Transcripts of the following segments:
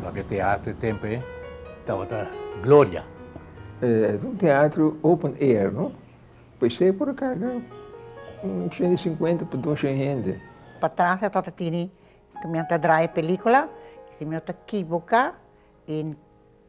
Tabata e teatro e tempoe tabata gloria. Tabata un teatro open air no paisai por a carga un ciento y cincuenta pa doce hende. Patras a tabata tini cu mi a ta draya pelicula y si mi no ta kiboca y.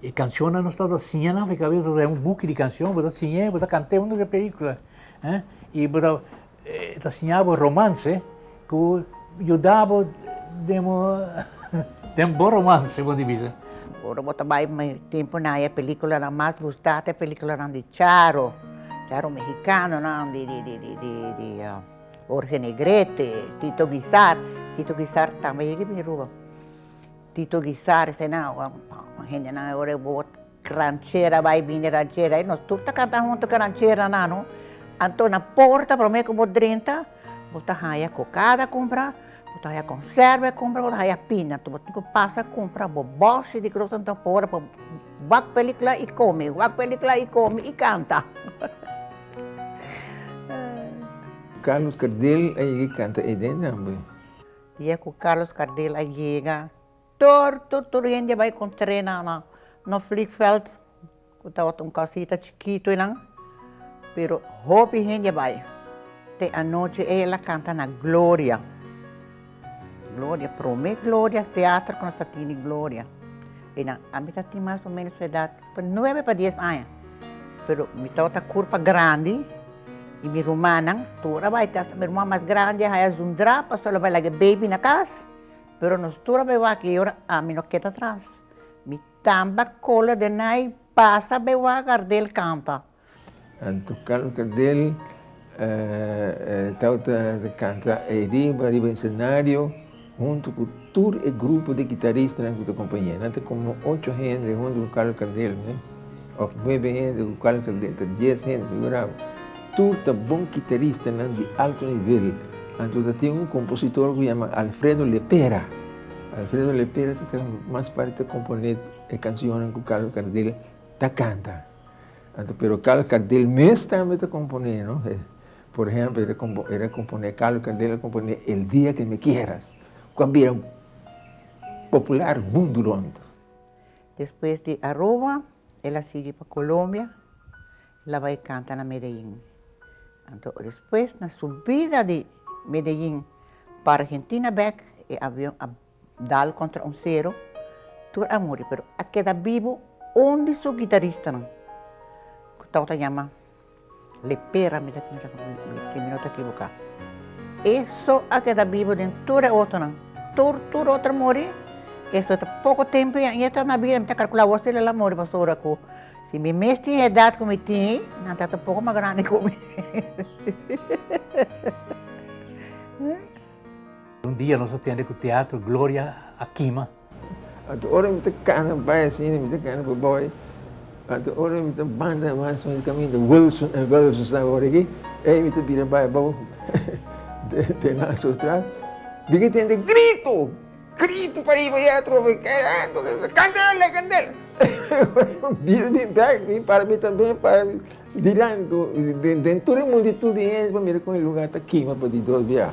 E cancionnan nos tabata siña nan, e cabes bo ta un buki di cancion, bo ta siña e, bo ta cant'e unda ke pelicula. I bo ta, e ta siña bo romance ku yuda bo den bo den bo romance, punto di vista. Ora bo ta bai tempunan ai e peliculanan mas gusta ta e peliculanan di Charo, Charo mehicanonan, di di di di Jorge Negrete, Tito Guisar, Tito Guisar tambe yega bin Aruba. Tito Guissaris ta na hendenan ora e word ranchera bai bini ranchera i nos tur ta kanta huntu ku ranchera nan no anto na porta promé ku bo drenta bo ta haña kokada kumpra bo ta haña konserbe kumpra bo ta haña pina anto bo tin ku pasa kumpra bo bòsio di gros anto afora pa wak pelikula i kome wak pelikula i kome i kanta. Carlos Gardel a yega kanta Eden tambe. Dia cu Carlos Gardel a yega, tur, tur, tur hende a bai encontr'é na, na, na vliegveld, cu tabata un casita chikitu eynan, pero hopi hende a bai. Te anochi ey a la canta na Gloria, Gloria, prome Gloria, teater cu nos ta tene Gloria, eynan a mita tin mas o menos su edad, Pa nuebe pa dies aña, pero mi tata ta kurpa grandi y mi rumannan tur a bai, hasta mi ruman mas grandi a haya su drap pasobra lo bai laga e baby na cas, pero nos tur a bai wak y ora ami no keda atras, mi tamba kola den ai pasa bai wak Gardel kanta. Anto canta del, Tao ta canta e riba riba e scenario hunto cu tur e grupo di guitaristanan cu ta acompañ'e. Nan ta como ocho hende hunto cu Carlos Cardel ne, of nuebe hende cu Carlos Cardel, ta dies hende figurado. Tur ta bon guitaristanan di alto nivel. Anto ta tin un compositor cu yama Alfredo Lepera. Alfredo Lepera ta mas parti ta compone e cancionnan cu Carlos Cardel ta canta. Anto pero kal kandel mes tambe ta komponé, no? E, por ehempel, e ta kompo, e ta komponé kal kandel, e komponé El dia que me quieras, ku a bira popular mundu rònt. Despues di Aruba, el a sigui pa Colombia, el a bai kanta na Medellín. Anto despues, na subida di Medellín pa Argentina bèk, e avion a. Dal kontra un sero, tur a muri pero a keda bibu un di su gitaristanan ku tabata ta yama Lepera mi ta kumsa ku mi si mi no ta ekibuká. E so a keda bibu den tur e otronan, tur tur e otro a muri, e so ta poko tempu i e ta na bida, mi ta kalkulá awor si el a muri pasobra ora ku si mi mes tin e edat ku mi tin, nan ta un poko mas grandi ku mi. Un dia nos a tende ku teatro Gloria a kima. Anto ora mi ta kana bai asin mi ta kana pa bai. Anto ora mi ta banda mas mas di kaminda Wilson e Wilson staba ora aki ey mi ta bira bai abou den Nassau Straat big'a tende grito grito pariba ya atrobe candela candela bira bin bek bin para mi tambe para dilantu den tur e multitud di hende pa mira kon e lugar ta kima pa di dos biaha.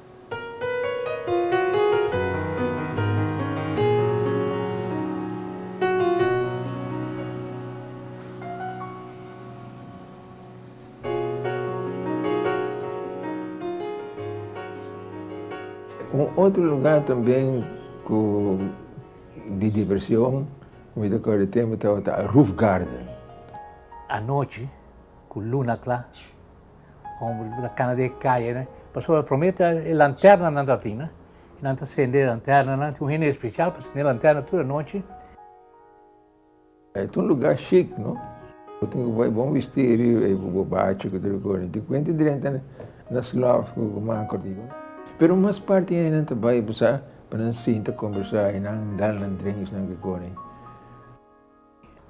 Un otro lugar tamben cu di diversion cu mi ta core tempo tabata Roof Garden. Anochi cu luna cla Homber ta cana den e caye ne. Pasobra prome ta e lanterna nan ta tin. Y nan ta cende e lanterna nan. Tin un hende especial pa cende lanterna tur anochi. E ta un lugar chic, no? Bo tin cu bay bon bistirio y cu bo bachi cu tur e cos. Tin cu hende drenta na slof cu manco arriba. Pero mas parti hende nan ta bay, bo sa, pa nan sinta, conversa y nan dal nan drinksnan cu e cos.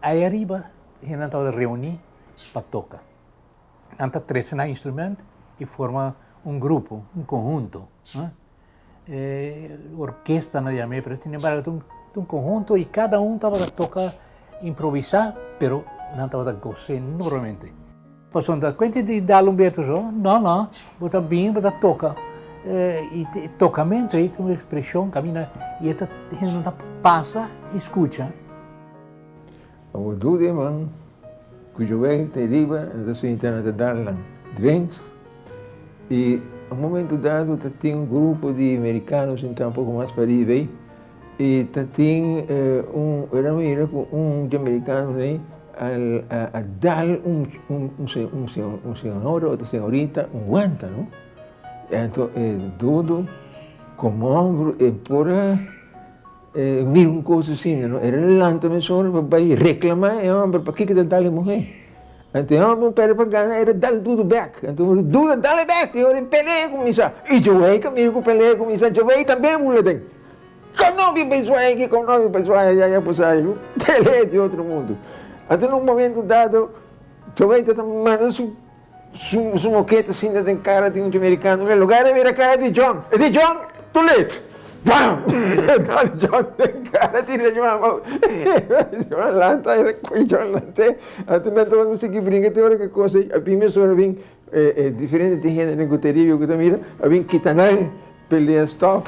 Ai ariba hendenan tabata reuní pa toka. Nan ta trese nan instrument i forma un grupo, un konhunto. E orkesta nan yam'é, pero sin embargo ta un konhunto i kada un tabata toka improvisá, pero nan tabata goz'é enormemente. Pasobra ta kuenti di dal un betu so, no, no, bo ta bini, bo ta toka. I e tokamentu ei ta un ekspreshon kaminda i e ta hende ta pasa i skucha. Awor tur e man ku yo wei te riba nan ta sinti nan ta dal nan drinks i un momentu dado ta tin un grupo di merikano sintá un poko mas pa riba ei. I ta tin un Ramiro ku un dominikano rei a dal un señor o señorita un guanta no. Anto e dudu komon e por a mira un kos asina no. E lanta mesora pa bai reklamá e hòmber pakiko e ta dal e muhé. Anto e hòmber un perde pa gana e ta dal dudu bèk. Anto e dudu a dal e bèk i ora e pelea kuminsá i djowei ta mira ku e pelea kuminsá djowei tambe a bula den. Ka no mi pensua eki kon no mi pensua e yaya por sa yu tele eti otro mundo ata en un momento dado chobey ta ta manda su su su moketa sinta den cara di un americano mira lugar e mira cara di John e di John too late bam e dal John den cara di John abo John lanta e recoge John lant'e ata nan ta wòrdu sigi brinca te ora ke cosey a bin mes ora a bin E diferente tin hende den Guteria yo ku ta mira a bin kita nan pelea stop.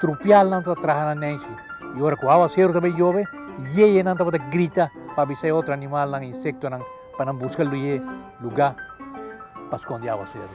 Trupialnan ta traha na nenshi i ora ku awaseru ta bay yobe, yeyenan tabata grita pa avisa e otro animalnan i insektonan pa nan buska lue lugá pa skonde awaseru.